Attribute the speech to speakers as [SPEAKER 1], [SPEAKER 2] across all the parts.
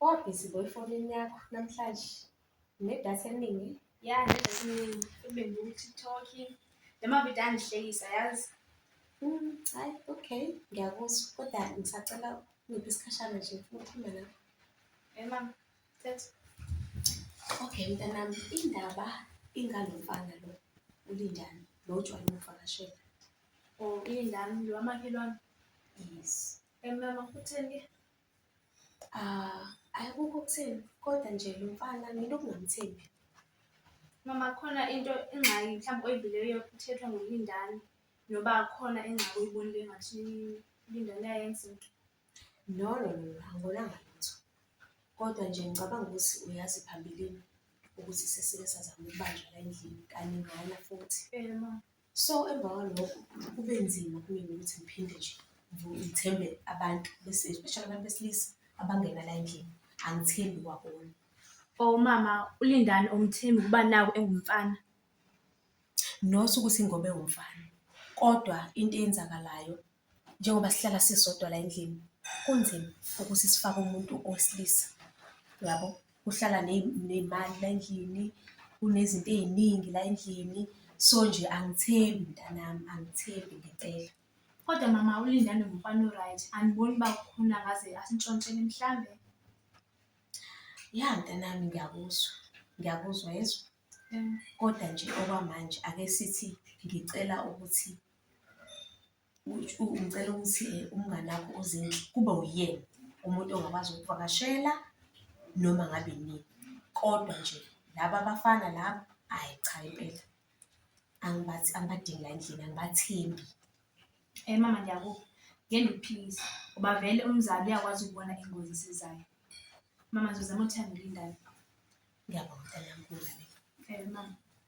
[SPEAKER 1] Waba busy bo efonini yakho namhlanje nedatha eliningi. Ya nedatha
[SPEAKER 2] eliningi kube ngu-TikTok noma vida angihlekisa yazi. Mm,
[SPEAKER 1] hayi okay ngiyakuzwa kodwa ngisacela ngiphi isikhashana nje ngifuna ukukhuluma nawe. Eh mama,
[SPEAKER 2] thetha.
[SPEAKER 1] Okay mntanami indaba ingalo mfana lo uLindani lo ojwayele ukuvakashela.
[SPEAKER 2] Oh,
[SPEAKER 1] Lindani lo
[SPEAKER 2] wamakhelwane. Yes. Eh mama, utheni ke?
[SPEAKER 1] Akukho okutheni kodwa nje lo mfana mina ukungamthembi.
[SPEAKER 2] Mama khona into ingxaki mhlawumbe oyibhilileyo ithethwa ngulindani noba khona ingxaki oyibonile engathi ulindani uyayenza into. No no
[SPEAKER 1] no angibonanga lutho kodwa nje ngicabanga ukuthi uyazi phambilini ukuthi sesike sazama ukubanjwa la endlini kaningana futhi. Yebo mama.
[SPEAKER 2] So emva
[SPEAKER 1] kwalokho kube nzima kumina ukuthi ngiphinde nje ngithembe abantu bese especially abantu besilisa abangena la endlini, angithembi kwakona. Omama
[SPEAKER 2] uLindani umthembi ukuba naku engumfana?
[SPEAKER 1] Not ukuthi ngoba ewumfana kodwa into eyenzakalayo Njengoba sihlala sisodwa la endlini kunzima ukuthi sifake umuntu owesilisa yabo, kuhlala ney'mali la endlini, kunezinto ey'ningi la endlini. So nje angithembi mntanami, angithembi ngempela. Kodwa mama
[SPEAKER 2] uLindani ngumfana o-right, andiboni uba kukhona angaze asintshontshele mhlambe. Ya
[SPEAKER 1] mntanami ngiyakuzwa, ngiyakuzwa yezwa. Kodwa nje okwamanje ake sithi ngicela ukuthi Ngicela ukuthi umngani wakho uZinhle kube uyena umuntu ongakwazi ukukuvakashela noma ngabe inini, kodwa nje laba abafana laba ayi cha impela angibadingi la endlini angibathembi.
[SPEAKER 2] Mama ngiyakuva, ngeke ngikuphikise ngoba vele umzali uyakwazi ukubona ingozi esizayo. Mama ngizozama ukuthi angilindane. Ngiyabonga
[SPEAKER 1] mtanami . Mama.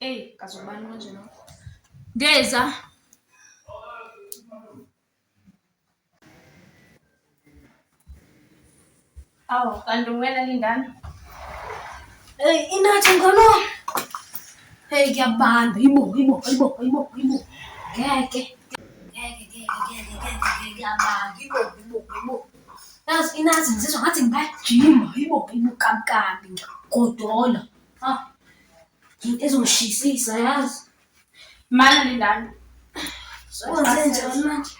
[SPEAKER 2] Eyi, kazi ubani manje lo. Ngeza. Awu, kanti uwena lindana. Eyi,
[SPEAKER 3] inathi ngono. Eyi, kuyabanda. Yibo, yibo, yibo, yibo, yibo. Ngeke. Ngeke, ngeke, ngeke, ngeke, ngeke, kuyabanda. Yibo, yibo, yibo. Yazi inathi ngizizwa ngathi ngingajima. Yibo, yibo, kabukabi nje. Godola. Ah. Into ezongishisisa yazi. Mana
[SPEAKER 2] lindani. Wenze
[SPEAKER 3] njani manje?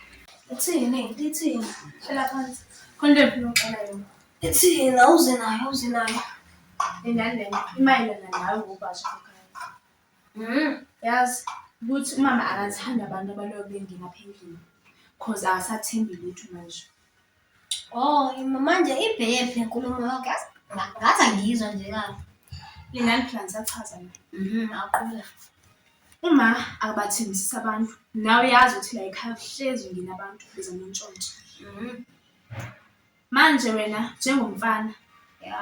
[SPEAKER 3] Ithini, ithini. Hlala phansi.
[SPEAKER 2] Khona into engifuna ukuxela yona. Ithini, awuze
[SPEAKER 3] nayo, awuze nayo. Lindani
[SPEAKER 2] lena, imayelana nawe ngobhashi wakho. Mm. Yazi ukuthi umama akathanda abantu abaloyo bengena phendlini. Cause akasathembi lutho manje. Oh, manje
[SPEAKER 3] ibhephi inkulumo yakho yazi nga- ngathi angiyizwa nje kahle. Lingani phela
[SPEAKER 2] ngisachaza mina. Mhm, aqubeka.
[SPEAKER 3] Uma
[SPEAKER 2] akabathembisisa abantu, nawe uyazi ukuthi la ekhaya kuhlezi ngina abantu beza nontshontsho. Mhm, Manje wena njengomfana ya.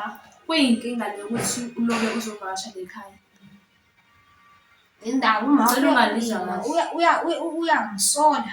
[SPEAKER 2] kuyinkinga le ukuthi uloke uzovakasha le khaya.
[SPEAKER 3] Indawo uma Ngicela ungalizwa kahle. uya uya uya- uyangisola.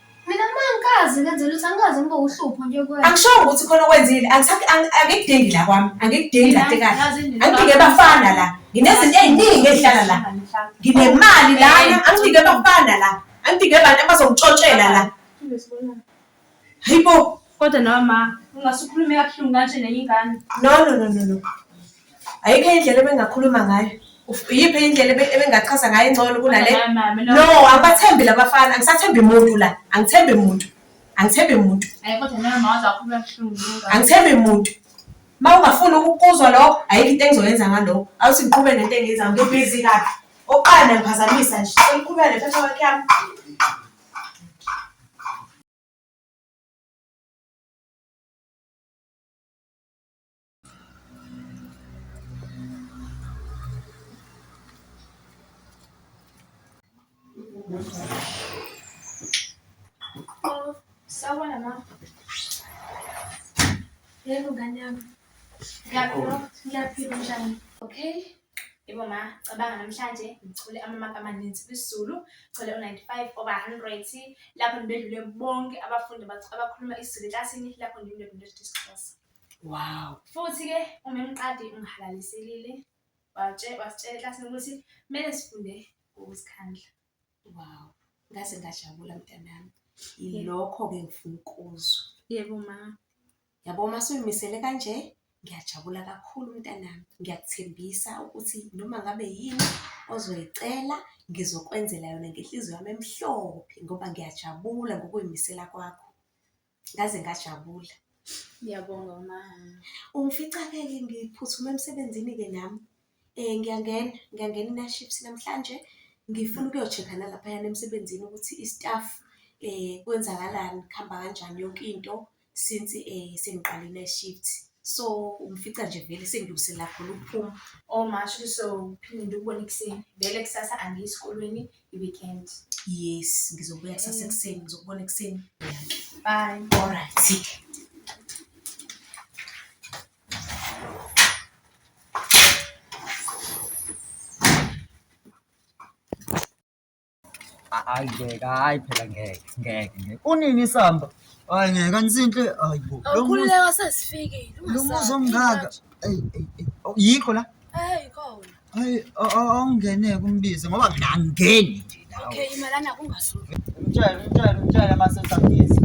[SPEAKER 1] Mina uma
[SPEAKER 3] ngikazi ngenze lutho angikaze ngibe uhlupho nje kuwena. Angishongo ukuthi khona okwenzile,
[SPEAKER 1] angisa- ang- angikudingi la kwami, angikudingi la tekane. Angidingi abafana la, nginezinto ey'ningi ey'hlala la. Nginemali lana, angidingi abafana la, angidingi abantu abazongitshotshela la. Hayi bo, Kodwa nawe ma,
[SPEAKER 2] ungasukhulumi kabuhlungu kanje nenye ingane. no, no, no, no, no.
[SPEAKER 1] ayikho enye indlela ebengakhuluma ngayo Uf- iyiphi enye indlela ebe- ebengachaza ngayo engcono kunale Mama, mama, no. no angibathembi labafana angisathembi muntu la angithembi muntu angithembi muntu
[SPEAKER 2] Hayi kodwa nawe mawaze wakhuluma buhlungu lungaka. angithembi muntu
[SPEAKER 1] ma ungafuni ukuzwa lokho ayikho into engizoyenza ngalokho awuthi ngiqhube nento engiyenzayo ngibhizi kabi oqala nangiphazamisa nje sengiqhubeka nephepha wakhe yami
[SPEAKER 2] Sawubona mama. Yebo ngane yami.
[SPEAKER 3] Ngiyaphila,
[SPEAKER 2] ngiyaphila njani?
[SPEAKER 3] Okay.
[SPEAKER 2] Yebo ma, cabanga namhlanje ngithole amamaki amaninzi kwisiZulu, ngithole u-95 over 100 lapho ngibedlule bonke abafundi abakhuluma isiZulu eklasini lapho ngibedlule isiXhosa. Wow.
[SPEAKER 1] Futhi-ke
[SPEAKER 2] umemqadi ungihalaliselile wasitshela eklasini ukuthi kumele sifunde ngokuzikhandla. Wow.
[SPEAKER 1] Ngaze ngajabula mntanami. Yilokho-ke ngifuna ukuzwa. Yebo ma.
[SPEAKER 2] Yabo uma
[SPEAKER 1] suyimisele kanje ngiyajabula kakhulu mntanami. Ngiyakuthembisa ukuthi noma ngabe yini ozoyicela ngizokwenzela yona ngenhliziyo yami emhlophe ngoba ngiyajabula ngokuyimisela kwakho. ngaze ngajabula. Ngiyabonga
[SPEAKER 2] ma. Ungifica-ke-ke
[SPEAKER 1] ngiphuthume emsebenzini-ke nami. Um ngiyangena, ngiyangena i-night shift namhlanje. Ngifuna ukuyo-check-a nalaphayana emsebenzini ukuthi i-staff um kwenzakalani, kuhamba kanjani yonke into since um sengiqale i-night shift. So ungifica nje vele sengilungiselela khona ukuphuma. Oh ma shuthi
[SPEAKER 2] sophinde ngikubone ekuseni. Vele kusasa angiyi esikolweni,
[SPEAKER 1] i-weekend.
[SPEAKER 2] Yes,
[SPEAKER 1] ngizobuya
[SPEAKER 4] kusasa mm. ekuseni, ngizokubona ekuseni. Bye. All right. hayi ngeke hayi phela ngeke ngeke ngeke unini isamba hayi ngeke anisinhle hayi bo awukhululeka
[SPEAKER 5] sesifikile lo muzi omngaka
[SPEAKER 4] yikho la eyi khona
[SPEAKER 5] Hayi
[SPEAKER 4] awungene kumbize ngoba mina angingeni
[SPEAKER 5] nje nawe. Okay,
[SPEAKER 4] imalana
[SPEAKER 5] kungasuki.
[SPEAKER 4] Mtshele, mtshele, mtshele mase usambiza.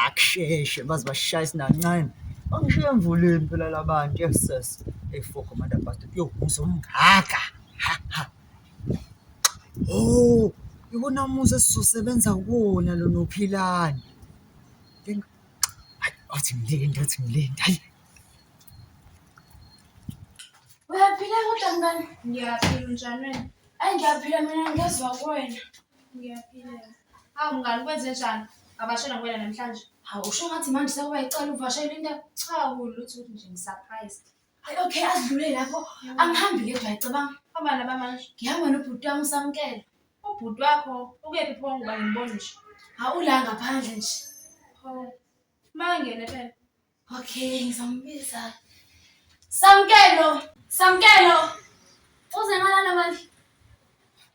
[SPEAKER 4] Akusheshe baze bashaya isinancane. Bangishiye emvuleni phela labantu yes sis. Hey foko manda bastard. Yo, uzomgaga. Ha ha. Oh, ikona muzi esizosebenza kuwona lona uPhilani. Hayi, wathi mlindi, wathi mlindi, hayi.
[SPEAKER 5] Uyaphila kodwa mngani? Ngiyaphila unjani
[SPEAKER 2] wena? Ayi ngiyaphila mina
[SPEAKER 5] ngezwa kuwena. Ngiyaphila.
[SPEAKER 2] Hawu mngani kwenze njani? Ngabashela kuwena namhlanje. Hawu usho ngathi manje
[SPEAKER 5] sekuba yicala uvashela into. Cha kulutho ukuthi
[SPEAKER 2] nje ngi-surprised. Hayi okay
[SPEAKER 5] adlule lapho angihambi ke dwa cabanga. Hamba naba manje.
[SPEAKER 2] Ngihamba nobhuti wami
[SPEAKER 5] usamkela. Ubhuti wakho
[SPEAKER 2] ukephi pho ngoba ngibona nje. Awula ngaphandle
[SPEAKER 5] nje. Pho.
[SPEAKER 2] Mangene phela. Okay
[SPEAKER 5] ngizambiza. Samkelo, Samkelo. Uze ngalana manje.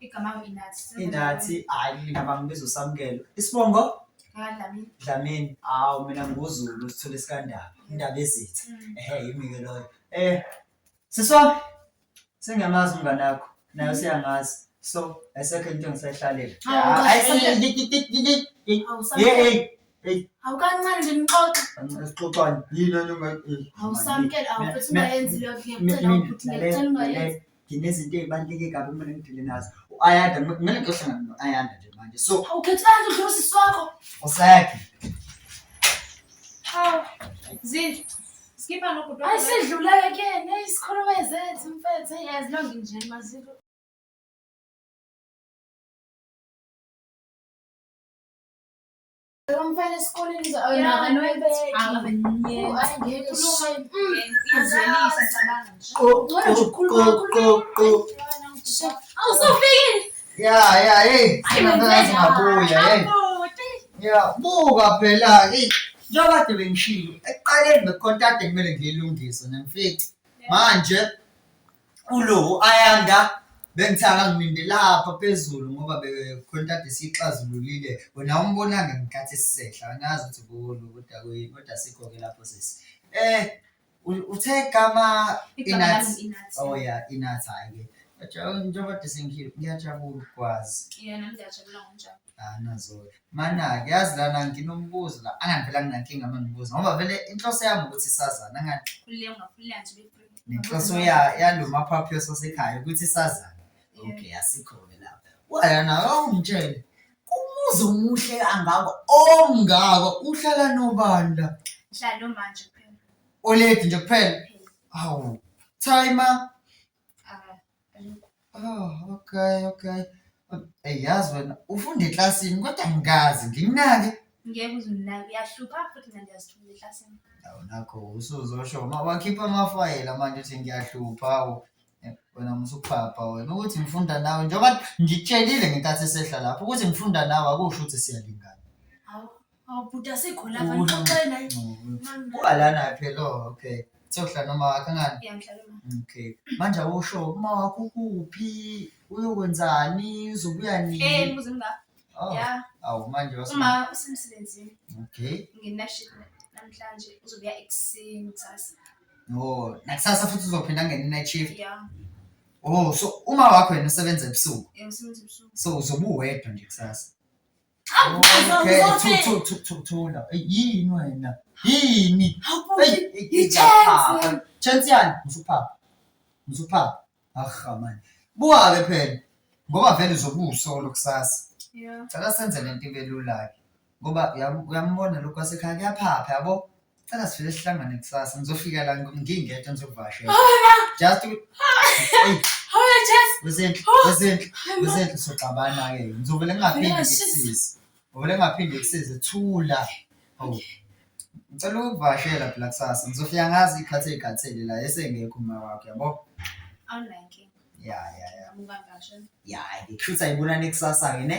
[SPEAKER 2] Igama inathi. Inathi hayi mina
[SPEAKER 4] bangibiza uSamkelo. Isibongo? Dlamini.
[SPEAKER 2] Dlamini. Hawu
[SPEAKER 4] mina nguzulu sithole sikandaba. Mm. Indaba ezitha. Mm. Ehhe yimi ke loyo. Eh siswa sengiyamazi umngane wakho naye mm. useyangazi. So ayisekho into engisayihlalele. Ayisekho. Hey hey. Awukancane
[SPEAKER 5] nje nixoxe. Sixoxani? Yini onye ungayi? Awusamkele awukuthi ungayenzi
[SPEAKER 4] leyo ngiyacela ukuthi ngiyacela
[SPEAKER 5] ungayenzi. nginezinto ezibaluleke
[SPEAKER 4] kabi kumele ngiphile nazo u-ayanda kumele ngiyohlangana no-ayanda nje manje so awukhethanga nje udlula usisi
[SPEAKER 5] wakho usayakhe
[SPEAKER 2] hawu zindlu skipha nokudo hayi sidluleke kuyena
[SPEAKER 5] isikhuluma ezethu mfethu eyazi lonke nje maziko
[SPEAKER 2] Umfana
[SPEAKER 5] esikoleni oh, Ya ya hey,
[SPEAKER 4] singazi ngabuya hey. Ya buka phela hey. Njengoba kade bengishilo, ekuqaleni bekhonta kade kumele ngilungise nemfici. Manje Ulo Ayanda bengithaka ngiminde lapha phezulu ngoba bekhona kade siyixazululile wena umbonanga ngikhathi esisehla angazi ukuthi kuwona ukuthi akuyini kodwa sikho-ke lapho sisi eh uthe gama inathi oh ya inathi hhayi-ke njengoba de sengihile ngiyajabula ukukwazi
[SPEAKER 2] Anazolo.
[SPEAKER 4] Mana-ke yazi lana nginombuzo la angani vele anginankinga uma ngibuza ngoba vele inhloso yami ukuthi sazane angani Khululeka ungakhululeka
[SPEAKER 2] nje bebreak. nenhloso ya-
[SPEAKER 4] yalo maphaphu yosasekhaya ukuthi sazane Yeah. okay asikhona lapho wayana awungitshele umuzi omuhle kangako omngako uhlala nobani la Ngihlala nomanje kuphela.
[SPEAKER 2] oledi nje
[SPEAKER 4] kuphela awu thayima Oh, okay, okay. Ey yazi wena ufunda eklasini kodwa ngikazi nginginake. Ngeke
[SPEAKER 2] uzunginake uyahlupha futhi mina ngiyazithumela
[SPEAKER 4] eklasini. Awu nakho usuzosho uma wakhipha amafayela manje uthi ngiyahlupha awu. Eh, Wena musuphapha wena ukuthi ngifunda nawe njengoba ngitshelile ngenkathi esehla lapho ukuthi ngifunda nawe akusho ukuthi siyalingana. Hawu
[SPEAKER 1] Awubhuti asikho la Ukudla. kanti uxoxe naye. Uba lana
[SPEAKER 4] phela oh, okay. Sokuhlala noma wakho ngani? Ngiyangihlala uma. Okay.
[SPEAKER 2] Manje
[SPEAKER 4] awusho uma wakho kuphi? Uyokwenzani? Uzobuya Eh, nini? mbuzo mka.
[SPEAKER 2] Oh, Ya,
[SPEAKER 4] awu manje
[SPEAKER 2] wasema. uma usemsebenzini Okay.
[SPEAKER 4] nginashift
[SPEAKER 2] namhlanje uzobuya ekuseni kusasa. Oh,
[SPEAKER 4] nakusasa futhi uzophinda ngene night shift. Ya,
[SPEAKER 2] Oh, so
[SPEAKER 4] uma wakho yena usebenza ebusuku. eh, usebenza ebusuku.
[SPEAKER 2] So uzobuwedwa
[SPEAKER 4] nje kusasa. Thula, yini wena? Yini? Ijaphapha.
[SPEAKER 1] Chance yani,
[SPEAKER 4] usuphapha. Usuphapha. Aha man. Buhale phela. Ngoba vele uzobuso lokusasa. Yeah. Cela senze
[SPEAKER 2] lento ibe
[SPEAKER 4] lula ke. Ngoba uyambona lokho asekhaya kuyaphapha yabo. Cela sivele sihlangane kusasa. Ngizofika la ngingedwa ngizokuvashela. Hola, Just u- Hey, hola Jess. wezenhle, wezenhle, Hi, mom. wezenhle soxabana ke. Ngizovele ngingaphindi Ngivele ngishise. ngikusize. Ngizovele ngingaphindi ngikusize. Thula. Oh. Ngicela ukuvashela phela kusasa. Ngizofika ngazi ikhathi eyikhathele la esengekho uma wakho yabo. Awunankinga.
[SPEAKER 2] Ya ya
[SPEAKER 4] ya. Amuka
[SPEAKER 2] ngasho. Ya, ngikushuthi
[SPEAKER 4] ayibonani kusasa ke ne.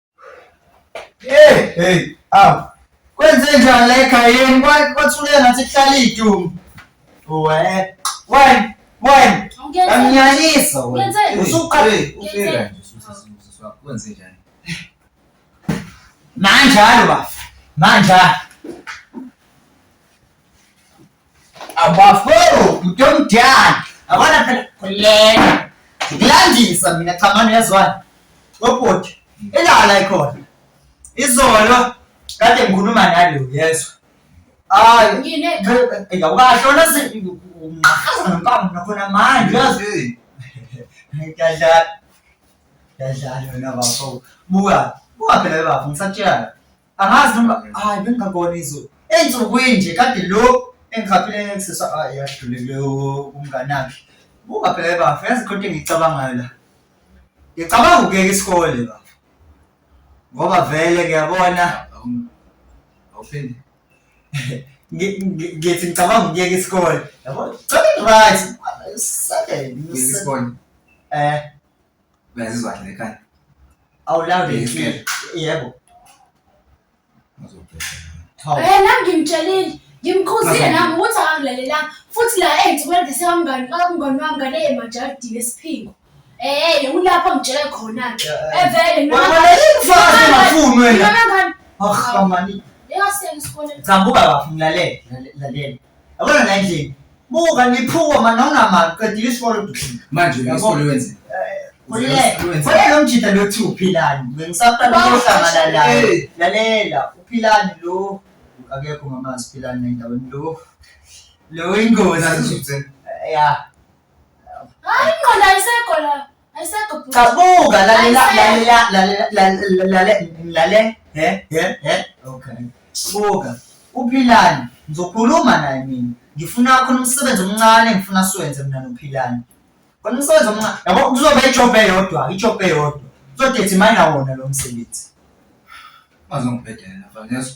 [SPEAKER 1] Hey,
[SPEAKER 4] hey, aw. Kwenze njani la ekhayeni? Kwa- Kwathuleka ngathi kuhlala idumu. Uwe. Wena, wena. Awuyenze- Anginyanyisa wena. Wenzeni? Usuqale. Hey, ufika nje
[SPEAKER 6] usuthi sisi wakho wenze njani?
[SPEAKER 4] Manjalo bafo. Manjalo. abafo mtomdala abona phela khuleka ngikulandisa mina cha mani uyazwani obhuti ilala ikhona izolo kade ngikhuluma nalo yezwa hayi ngine
[SPEAKER 1] ngawukahlona
[SPEAKER 4] unqahaza ngempama nakhona manje uyazi ngiyadlala ngiyadlala wena bafo buka buka phela bafo ngisakutshela Angazi noma hayi bengingabona izulu. Ensukwini nje kade lo engihaphile ngisisa hayi yadlulile umnganakhe. Buka phela bafo yazi khona into engiyicabangayo la. Ngicabanga ukuyeka isikole bafo. Ngoba vele ngiyabona
[SPEAKER 6] awuphinde. Ngi-
[SPEAKER 4] ngi- Ngithi ngicabanga ukuyeka isikole. Yabo? Cela right. Seven. Ngeke
[SPEAKER 6] isikole. Eh. Uyazizwa kahle lekhanda. Awulawule
[SPEAKER 4] Yes, inhliziyo. Yebo. Ngizobheka.
[SPEAKER 1] Hawu. Eh nami ngimtshelile ngimkhuzile nami ukuthi akangilalelanga futhi la engithi kwenza sekamngani kamngani wami ngane emajalidini esiphingo eh ulapho ngitshele khona ke evele Mfazi
[SPEAKER 4] ungafuni wena. Ah,
[SPEAKER 1] kamani.
[SPEAKER 4] Yeka siyena
[SPEAKER 1] isikoleni Cha buka bafo ngilalele.
[SPEAKER 4] Lalela. Yabona la endlini. Buka niphuka manje nonamali qedile isikole. Manje ke isikole
[SPEAKER 6] wenze. Khona
[SPEAKER 4] lo mjita lo kuthiwa uphilani. Bengisaqala ukuhlangana naye. Lalela uphilani lo akekho ngamazi uphilani nendaweni lo. Lo ingozi. Ya. Hayi ingqondo ayisekho
[SPEAKER 1] la. Cabuka lalela
[SPEAKER 4] lalela lalela lalela lale he he he okay. Buka uPhilani ngizokhuluma naye mina. Ngifuna khona umsebenzi omncane ngifuna siwenze mina noPhilani. Khona umsebenzi omncane. Yabo kuzoba ijob eyodwa, ijob eyodwa. Uzodethi mina wona lo msebenzi.
[SPEAKER 6] Bazongibhedela mfana ngezwa.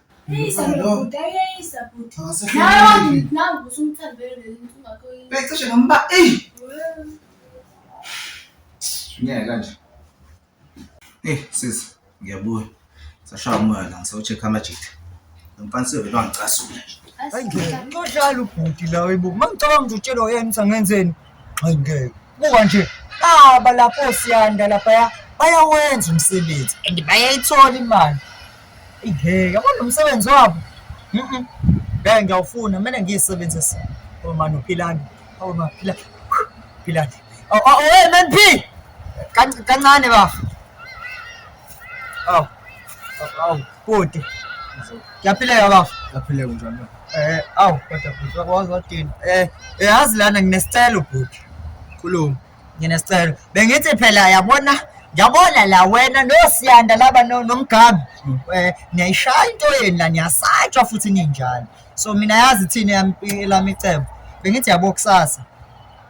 [SPEAKER 1] Becishe ngomba eyi
[SPEAKER 6] ngeke kanje eyi sisi ngiyabuya sashaya umoya la ngisawucheck amajita lomfana siyovele wangicasula nje Hayi ngeke.
[SPEAKER 4] Nxodlala ubhuti la webuka. Mangicabanga ukuthi utshelwa yena ukuthi angenzeni. Hayi ngeke. buka nje aba lapho siyanda laphaya bayawenza umsebenzi and bayayithola imali ingeke abona umsebenzi wabo mhm ngeke ngiyawufuna kumele ngiyisebenzise oh mani uphilani oh mani phila philani oh oh hey man p kancane bafo Aw. Aw, bhuti. Ngiyaphileka baba. Ngiyaphileka njani
[SPEAKER 6] na? Eh, aw, kodwa
[SPEAKER 4] bhuti wakwazi wathini? Eh, yazi lana nginesicelo bhuti. Khuluma.
[SPEAKER 6] Nginesicelo.
[SPEAKER 4] Bengithi phela yabona Ngiyabona la wena nosiyanda laba nomgabi hmm. eh, niyayishaya into yenu la niyasatshwa futhi ninjalo so mina yazi thina yami lami icebo bengithi yabo kusasa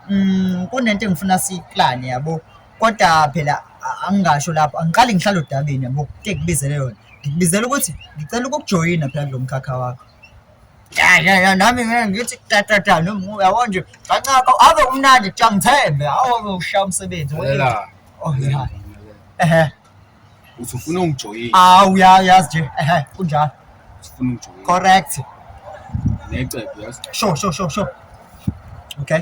[SPEAKER 4] mm kunento engifuna siyiplane yabo Kodwa phela a- angingasho lapho angiqali ngihlale odabeni yabo kuke kubizele yona ngikubizela ukuthi ngicela ukukujoyina phela kulo mkhakha wakho ya ya ya nami ngeke ngithi tatata noma uyabo nje kancaka ave umnandi kuthiwa ngithembe awu ushaya umsebenzi we- Lalela. Oh, Lalela, ya. lalela. ehe
[SPEAKER 6] uthi ufuna ungijoyina awu ya yazi nje
[SPEAKER 4] ehe kunjalo uthi ufuna ungijoyina
[SPEAKER 6] correct
[SPEAKER 4] necebo
[SPEAKER 6] yazi sure sure sure sure
[SPEAKER 4] okay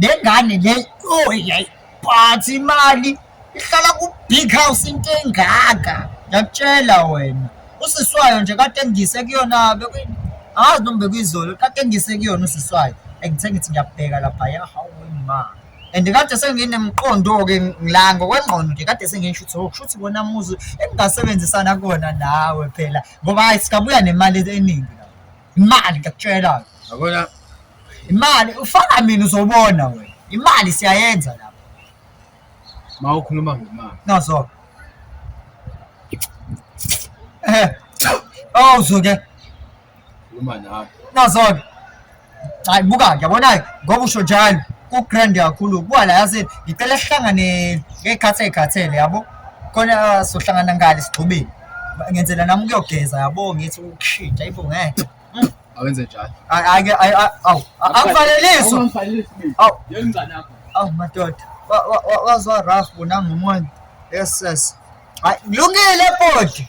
[SPEAKER 4] le ngane le oyayi phathi imali ihlala ku-big house into engaka ngiyakutshela wena usiswayo nje kade ngise kuyona angazi noma bekuyizolo kade ngise kuyona usiswayo and ngithe ngithi ngiyabheka laphaya hawu ma and kade senginemqondo-ke ngila ngokwengqondo nje kade sengisho ukuthi oh, kusho ukuthi wona muzi engingasebenzisana kona nawe phela ngoba hhayi singabuya nemali eningi imali ngiyakutshela yabona
[SPEAKER 6] imali
[SPEAKER 4] ufana mina uzobona wena imali siyayenza lapha
[SPEAKER 6] ma ukhuluma ngemali nazo
[SPEAKER 4] eh oh uzoke khuluma
[SPEAKER 6] nawe nazo-ke
[SPEAKER 4] hayi buka-ke yabona-ke ngoba usho njalo ku-grand kakhulu kuba la yase ngicela sihlangane ngey'khathi ey'khathele yabo khona sohlangana ngale sigxubeni ngenzela nami ukuyogeza yabo ngithi ushida ibo ngeke mm.
[SPEAKER 6] awenze njalo ake awu akufanelisi
[SPEAKER 4] awu yengcane yakho
[SPEAKER 6] awu madoda
[SPEAKER 4] wazwa rough bona ngomuntu yes yes hayi kulungile body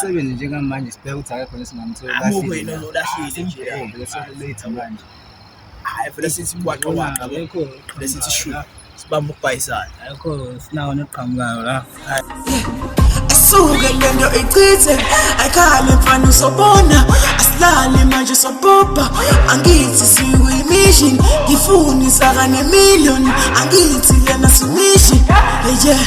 [SPEAKER 6] sebenze njengamanje sibheke ukuthi akekho nesingamthola
[SPEAKER 7] hayi vele sithi
[SPEAKER 6] kwaqa
[SPEAKER 7] waqa lokho vele sithi
[SPEAKER 8] shu
[SPEAKER 7] sibamba ukubhayisana akho sinawo
[SPEAKER 8] noqhamukayo la asuke
[SPEAKER 9] lento ichithe ayikhale mfana usobona asilale manje sobhobha angithi sikuyimission ngifuni saka nemillion angithi lena simishi yeah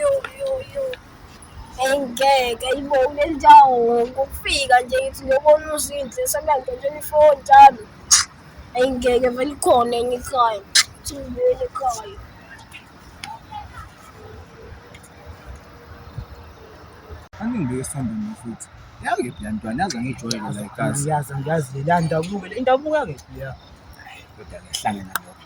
[SPEAKER 5] Yo, yo, yo. Engeke ayibonge injawo ngokufika nje ngithi ngiyobona uzinhle sebenza nje ifoni njalo. Engeke vele ikhona enye ikhaya. Thulele
[SPEAKER 6] ekhaya. Angibe esambeni futhi. Yazi ke ntwana yazi ngijwayele la ekhaya. Ngiyazi ngiyazi le ndabuka
[SPEAKER 8] le ndabuka ke. Yeah. Kodwa
[SPEAKER 6] ngihlangana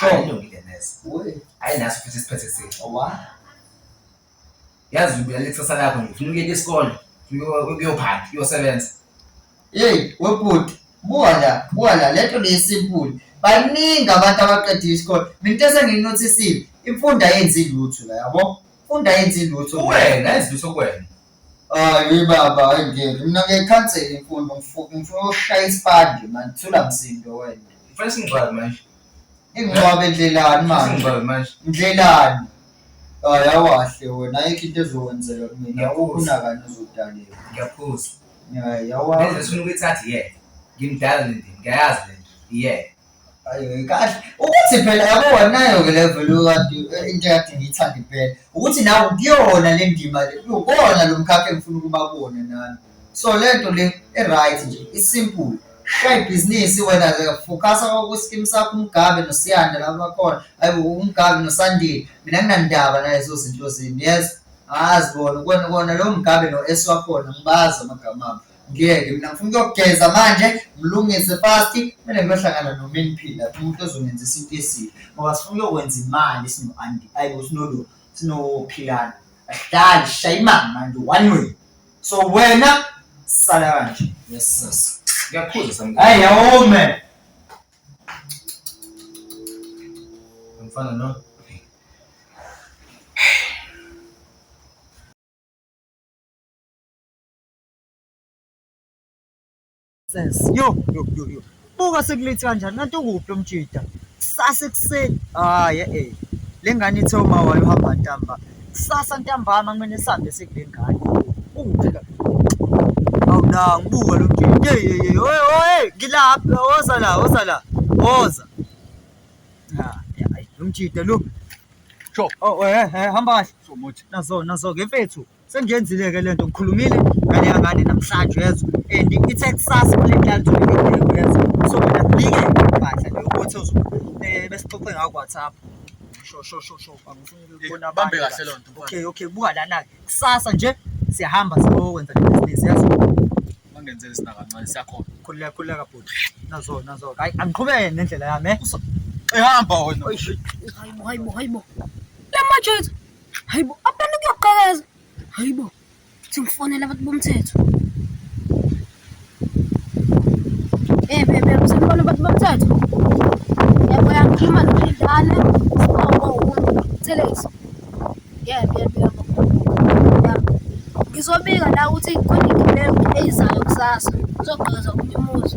[SPEAKER 6] ayilungile
[SPEAKER 4] neze
[SPEAKER 6] hayi naso futhi isiphethe sini yazi ubulala ikusasa lakho nje ufuna ukuyeka isikole ukuyophanda uyosebenza yeyi
[SPEAKER 4] webhuti buka la buka la le nto leyisimpuli baningi abantu abaqedile isikole mina into esengiyinothisile imfundo ayenzi lutho la yabo imfundo ayenzi lutho uwena ayenzi lutho
[SPEAKER 6] kuwena Hayi
[SPEAKER 4] baba hayi ngeke mina ngiyikhansele imfundo ngifu- ngifuna ushaya isipande mani thula msindo wena Ngifuna singcwabe manje.
[SPEAKER 6] ingcwabe
[SPEAKER 4] ndlelani mani Singcwabe manje.
[SPEAKER 6] ndlelani
[SPEAKER 4] hayi awahle wena ayikho into ezokwenzeka kumina Ngiyakuzwa. ukunakani uzodaleka Ngiyaphuza. hayi
[SPEAKER 6] Lento
[SPEAKER 4] awahle sifuna ukuyithatha iyeke.
[SPEAKER 6] Ngimdala le ndini, ngiyayazi le nto. Iyeke. Ayi
[SPEAKER 4] kahle ukuthi phela yabona nayo ke level kade eh, into yakhe ngiyithanda impela ukuthi nawe kuyona le ndima le kuyona lo mkhakha engifuna ukuba kuwona nami so le nto le e-right nje i-simple shaya ibhizinisi wena ke focasa kwakusikimu sakho umgabe nosiyanda laba bakhona ayi umgabe nosandile mina nginandaba naye zo zinto zini yes azi bona kona kona lo mgabe no-s wakhona ngibazi amagama abo ngeke mina ngifuna ukuyogeza manje ngilungise fast kumele ngiyohlangana nomini phila umuntu ozongenzisa into esile ngoba sifuna ukuyokwenza imali sino-andi ayi bo sinolo sinophilana ahlali shaya imali manje one way so wena sala kanje yes sis
[SPEAKER 6] ngiyakhuza samkhulu hayi yawome
[SPEAKER 4] mfana
[SPEAKER 6] no
[SPEAKER 4] Sis. Yo, yo, yo, yo. Buka sekulethi kanjani kanti ukuphi lo mjida? Kusasa ekuseni. Hayi ah, eh. Le ngane ithe uma wayo uhamba ntamba. Kusasa ntambama kumele sihambe sekule ngane. Ukuphi la? Awuna ngibuka lo mjida. Hey hey hey. Oye oye ngilapha woza la woza la. Woza. Ha, ah, lo mjida lo. Sho.
[SPEAKER 6] Oh eh eh hamba
[SPEAKER 4] kahle. So much. Nazo
[SPEAKER 6] nazo ke mfethu.
[SPEAKER 4] Sengiyenzile ke lento ngikhulumile ngale yangane namhlanje yezwa and ithe kusasa kule ntanto ngeke yezwa so mina ngibike impahla leyo ukuthi eh, besixoxe ngayo WhatsApp sho sho sho sho angifuni ukubona eh, bambe kahle lento
[SPEAKER 6] okay okay buka lana ke
[SPEAKER 4] kusasa nje siyahamba siyokwenza le business yezwa bangenzele sina
[SPEAKER 6] kancane siyakhona khuleka khuleka bhuti
[SPEAKER 4] nazo nazo hayi angiqhubeke nendlela yami eh ehamba
[SPEAKER 6] wena hayibo
[SPEAKER 5] hayibo hayibo lamajoyisa hayi bo abantu kuyoqhakaza hayi bo kuthi ngifonele abantu bomthetho eh bebe ngisemfona abantu bomthetho yebo yakhuluma nophindane sibongo umthelezi yebo yebo yebo ngizobika la ukuthi khona igibelo eyizayo kusasa uzoqhakaza omunye umuzi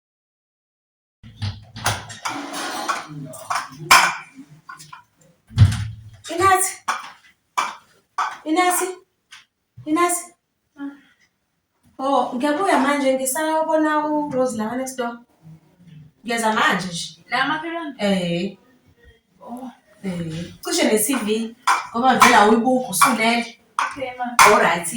[SPEAKER 1] Inathi. Inathi. Inathi. Oh, ngiyabuya manje ngisayobona uRose la next door. Ngiyeza manje nje. La makhelwane. Eh.
[SPEAKER 2] Oh. Eh.
[SPEAKER 1] Cishe ne-CV ngoba vele awuyibuki usulele. Okay ma. All
[SPEAKER 2] right.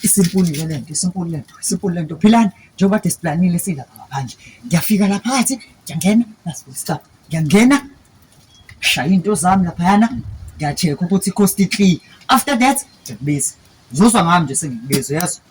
[SPEAKER 4] isimpulu le lento isimpulu lento isimpulu lento philani njengoba kade siplanile silapha ngaphandle ngiyafika la phakathi ngiyangena nasibuyisa ngiyangena shaya into zami laphayana ngiyacheka ukuthi cost clear after that ngiyakubiza uzozwa ngami nje sengikubiza uyazi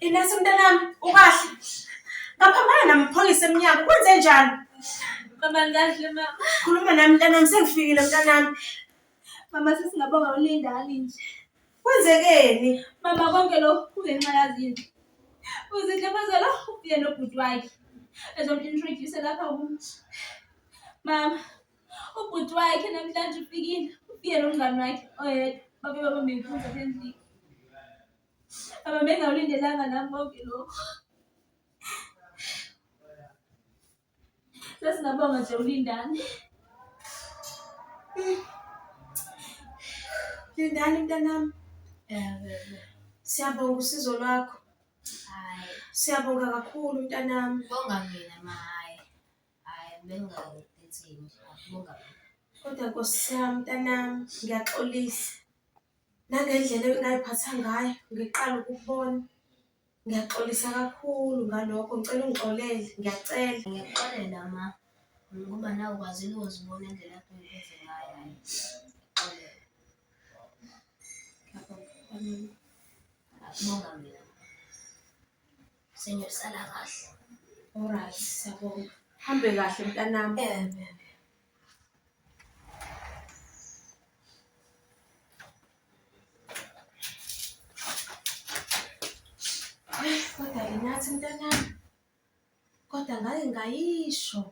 [SPEAKER 1] Inesi mntanami, ukahle? Ngaphambana namaphoyisa emnyango, kwenze njani? Mama
[SPEAKER 2] ngikahle mama. Khuluma nami mntanami,
[SPEAKER 1] sengifikile mntanami. Mama
[SPEAKER 2] sesingabonga ulindani nje. Kwenzekeni?
[SPEAKER 1] Mama konke
[SPEAKER 2] lokhu kungenxa yazinto. Uzinhle mazela ufike nobhuti wakhe. Ezomnintroduce lapha kum. Mama, ubhuti wakhe namhlanje ufikile. Ufike nomngani wakhe oyedwa. Babe babambe inkunzi apha endlini. Baba bengawulindelanga nami konke lokho. Sesingabonga nje ulindane.
[SPEAKER 1] Lindani mntanami. Siyabonga usizo lwakho. Hayi.
[SPEAKER 3] Siyabonga
[SPEAKER 1] kakhulu mntanami. Bonga mina ma
[SPEAKER 3] hayi. Hayi bengakuthini. Bonga. Kodwa
[SPEAKER 1] Nkosi yami mntanami ngiyaxolisa. Nangendlela engayiphatha ngayo ngiqala ukukubona. Ngiyaxolisa kakhulu ngalokho ngicela ungixolele, ngiyacela. Ngiyakuxolela ma,
[SPEAKER 3] ngoba nawe ukwazile ukuzibona indlela akade ungiveze ngayo hhayi. Ngiyakuxolela. Ngiyakubonga mina. Senyosala kahle. Alright,
[SPEAKER 1] siyabonga. Hambe kahle mntanami. ngathi mntanami, kodwa ngake ngayisho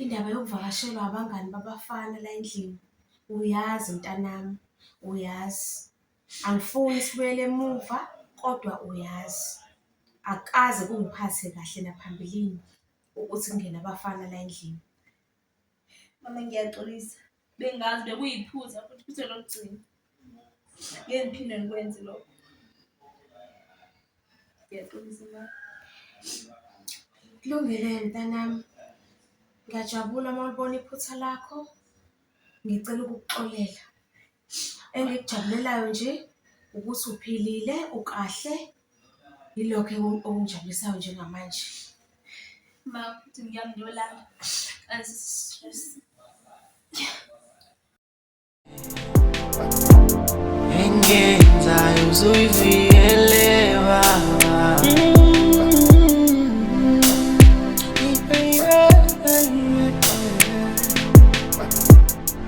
[SPEAKER 1] indaba yokuvakashelwa abangani babafana la endlini. Uyazi mntanami, uyazi angifuni sibuyele emuva kodwa uyazi akukaze kungiphathe kahle naphambilini ukuthi kungene abafana la endlini.
[SPEAKER 2] Mama ngiyaxolisa. Bengazi bekuyiphuza futhi iphutha lokugcina. Ngeke ngiphinde ngikwenze lokho. Ngiyaxolisa mama. Kulungile
[SPEAKER 1] mntanami. Ngiyajabula uma ulibona iphutha lakho. Ngicela ukukuxolela. Engikujabulelayo nje ukuthi uphilile, ukahle, yilokho okungijabulisayo njengamanje.
[SPEAKER 2] Uma uthi ngiyamlola kanti stress.
[SPEAKER 9] Engenzayo uzoyivikele baba.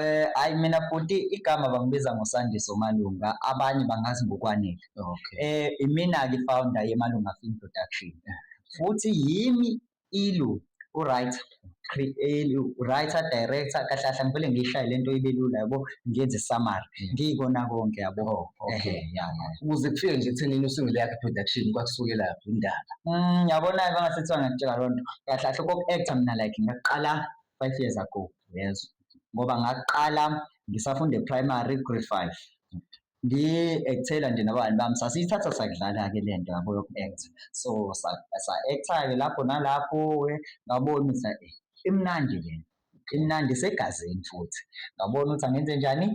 [SPEAKER 6] Eh hayi
[SPEAKER 4] mina bhuti igama bangibiza ngoSandiso Malunga abanye bangazi ngokwanele. Okay. Eh
[SPEAKER 6] imina ke founder
[SPEAKER 4] yeMalunga Film Production. Futhi yimi ilu uRight creator writer director kahle kahle ngivele ngishaye lento ibe lula yabo ngenze summary mm. ngikona konke yabo oh, okay yeah
[SPEAKER 6] ukuze kufike nje ekutheni usungule yakhe production kwakusuke lapho indaba mm yabona ke
[SPEAKER 4] ngasethiwa ngakutshela lonto kahle kahle koku actor mina like ngaqala five years ago ngezwa ngoba ngaqala ngisafunda e-primary grade five ngi-ekthela nje nabangani bami sasiyithatha sakudlala-ke le nto yabo yoku-act so sa-act-ke lapho nalapho ngabona ukuthi ayi imnandi le imnandi isegazini futhi ngabona ukuthi angenze njani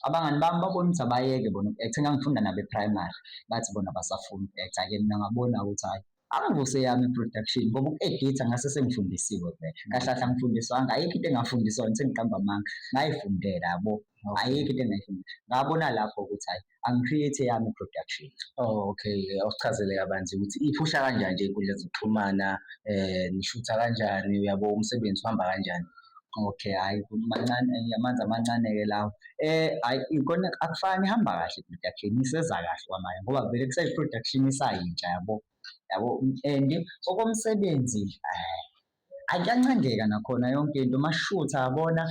[SPEAKER 4] abangani bami babona ukuthi abayeke bona uku-act ngangifunda nabo e-primary bathi bona basafuna uku-act-ke mina ngabona ukuthi hhayi angivuse yami production ngoba uku-editha ngase sengifundisiwe vele kahle kahle angifundiswanga ayikho into engafundiswa yona sengiqamba amanga ngayifundela yabo ayikho into engayifundela ngabona lapho ukuthi hayi angi-create yami production oh okay
[SPEAKER 6] awusichazele kabanzi ukuthi iphusha kanjani nje inkundla zokuxhumana um nishutha kanjani uyabo umsebenzi uhamba kanjani Okay, hayi
[SPEAKER 4] mancane eh, amanzi amancane-ke lawo. Eh, hayi ikona akufani ihamba kahle i-production iseza kahle kwamanje ngoba vele kuseyi-production isayintsha yabo, yabo and okomsebenzi eh, akuyancengeka nakhona yonke into mashutha yabona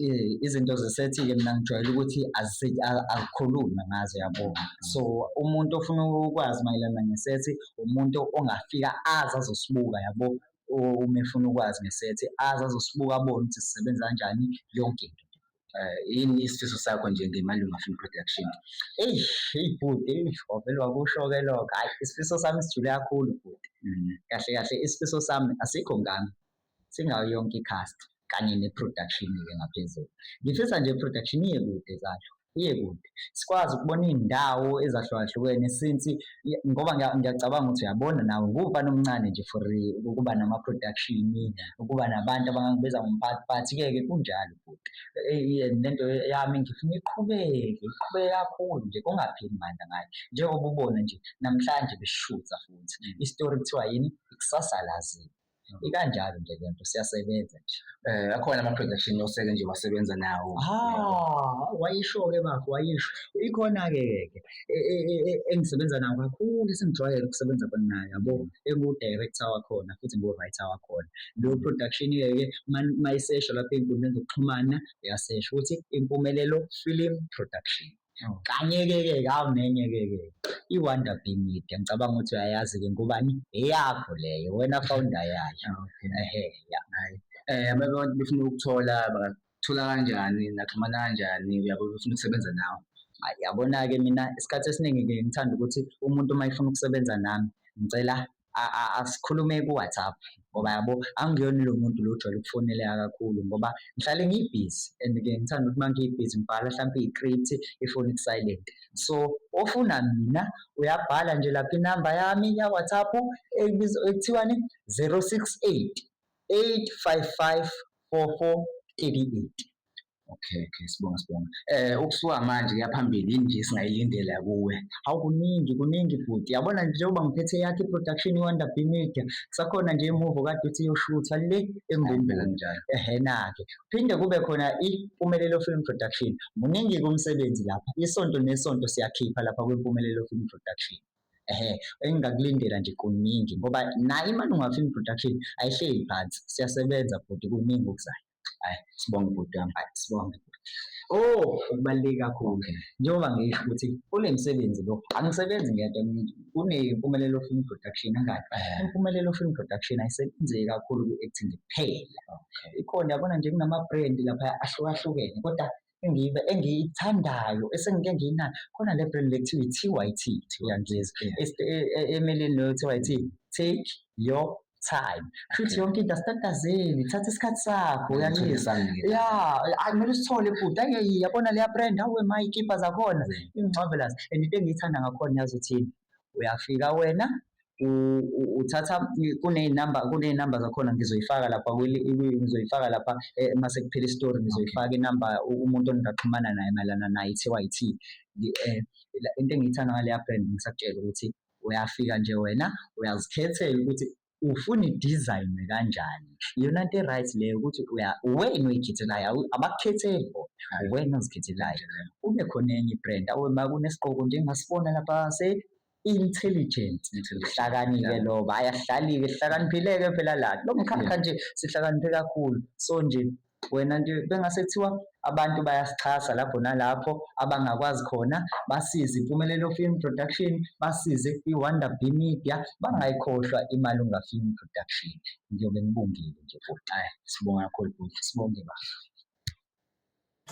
[SPEAKER 4] eh, izinto zisethike mina ngijwayele ukuthi azikhulunywe ngazo yabo. So umuntu ofuna ukwazi mayelana ngesethi umuntu ongafika azi azosibuka yabo. uma efuna ukwazi ngesethi azi azosibuka abone ukuthi sisebenza kanjani yonke into eh, yini
[SPEAKER 6] isifiso sakho nje ngemalunga film production eyi eyi
[SPEAKER 4] bhuti wavele wakusho-ke lokho hhayi isifiso sami sijule kakhulu bhuti mm. kahle kahle isifiso sami asikho ngami singayo yonke i-cast kanye ne-production-ke ngaphezulu ngifisa nje i-production iye kude zalo kuye kude sikwazi ukubona iy'ndawo ezahlukahlukene since ngoba ngiyacabanga ukuthi uyabona nawe nguwumfana omncane nje for ukuba nama-production ukuba nabantu abangangibiza ngomphathi but-ke ke kunjalo futhi lento yami ngifuna iqhubeke iqhubeke kakhulu nje kungapheli mandla ngayo njengoba ubona nje namhlanje beshutha futhi isitori kuthiwa yini ikusasa laziwa. ikanjalo nje le nto siyasebenza nje um akhona ama-production
[SPEAKER 6] oseke nje wasebenza nawo ha
[SPEAKER 4] wayisho-ke bafo wayisho ikhona-ke ke e- e- e- e- engisebenza nawo kakhulu esengijwayele ukusebenza khona naye yabo engu-director wakhona futhi ngu-writer wakhona leyo production-ke mayisesho lapha ey'nkundleni zokuxhumana uyasesho ukuthi impumelelo film production Kanye-ke-ke kawu nenye-ke-ke i-Wonder Bee Media ngicabanga ukuthi uyayazi-ke ngubani eyakho leyo wena founder yayo ehe ya Eh
[SPEAKER 6] abantu abantu befuna ukuthola bangathola kanjani naxhumana kanjani uyabo befuna ukusebenza nawe. Yabona-ke
[SPEAKER 4] mina isikhathi esiningi-ke ngithanda ukuthi umuntu uma efuna ukusebenza nami ngicela asikhulume ku-WhatsApp ngoba yabo angiyona lo muntu lo ojwayele ukufoneleka kakhulu ngoba ngihlale ngibhizi and ke ngithanda ukuthi uma ngibhizi ngibhala hlampe i-script ifoni ku-silent so ofuna mina uyabhala nje lapha inamba yami ya-WhatsApp ekuthiwani 068 855 4438
[SPEAKER 10] Okay, okay, sibonga sibonga. Eh ukusuka manje kuya phambili yini nje singayilindela kuwe? Hawu kuningi kuningi futhi. Yabona nje njengoba ngiphethe yakhe i-production iWonder B Media, kusakhona nje imuvo kade uthi iyoshutha le eMbumbulu. Kanjalo. Ehhe na-ke. Phinde kube khona iMpumelelo Film Production. Muningi-ke umsebenzi lapha. Isonto nesonto siyakhipha lapha kwiMpumelelo Film Production. Ehhe, engingakulindela nje kuningi ngoba nayo iMalunga Film Production ayihleli phansi. Siyasebenza futhi kuningi okuzayo. Ay, sibonge bhuti wami, ay, sibonge. Oh, okubaluleke kakhulu njengoba ngisho ukuthi kunemsebenzi lo, angisebenzi ngedwa mina. Kunempumelelo Film Production angani? Eh. Impumelelo Film Production ayisebenzeki kakhulu kwi-acting kuphela. Okay. Ikhona yabona nje kunama-brand lapha ahlukahlukene kodwa engibe engiyithandayo esengike ngiyinayo khona le brand lethiwa i-TYT uyangizwa emeleni leyo TYT take your time futhi yonke into asitatazeli thatha isikhathi sakho uyanxiza ya akumele usithole futhi ayi yabona leya brand awe mayikipha zakhona ingixovelas and into engiyithanda ngakhona yazi uthini uyafika wena uthatha kuney'namba kuney'namba zakhona ngizoyifaka lapha ngizoyifaka lapha eh, uma sekuphela isitori ngizoyifaka inamba umuntu ongingaxhumana naye mayelana naye i-tyt eh, into engiyithanda ngaleya brand ngisakutshela ukuthi uyafika nje wena uyazikhethela ukuthi ufuna idizayinwe kanjani iyona nto e-right leyo ukuthi uwena oyikhethelayo abakukhetheli bona uwena ozikhethelayo kube khona enye i-brand awe ma kunesiqoko njengasibona lapha se intelligent uhlakanike loba ayahlaliwe sihlakaniphileke phela la lo mkhakha nje sihlakaniphe kakhulu so nje wena nje bengase kuthiwa abantu bayasixhasa lapho nalapho abangakwazi khona basize impumelelo film production basize i-wonder b media bangayikhohlwa imalunga film production ngiyobe ngibongile nje futhi ayi sibonga kakhulu bhuti sibonge bafo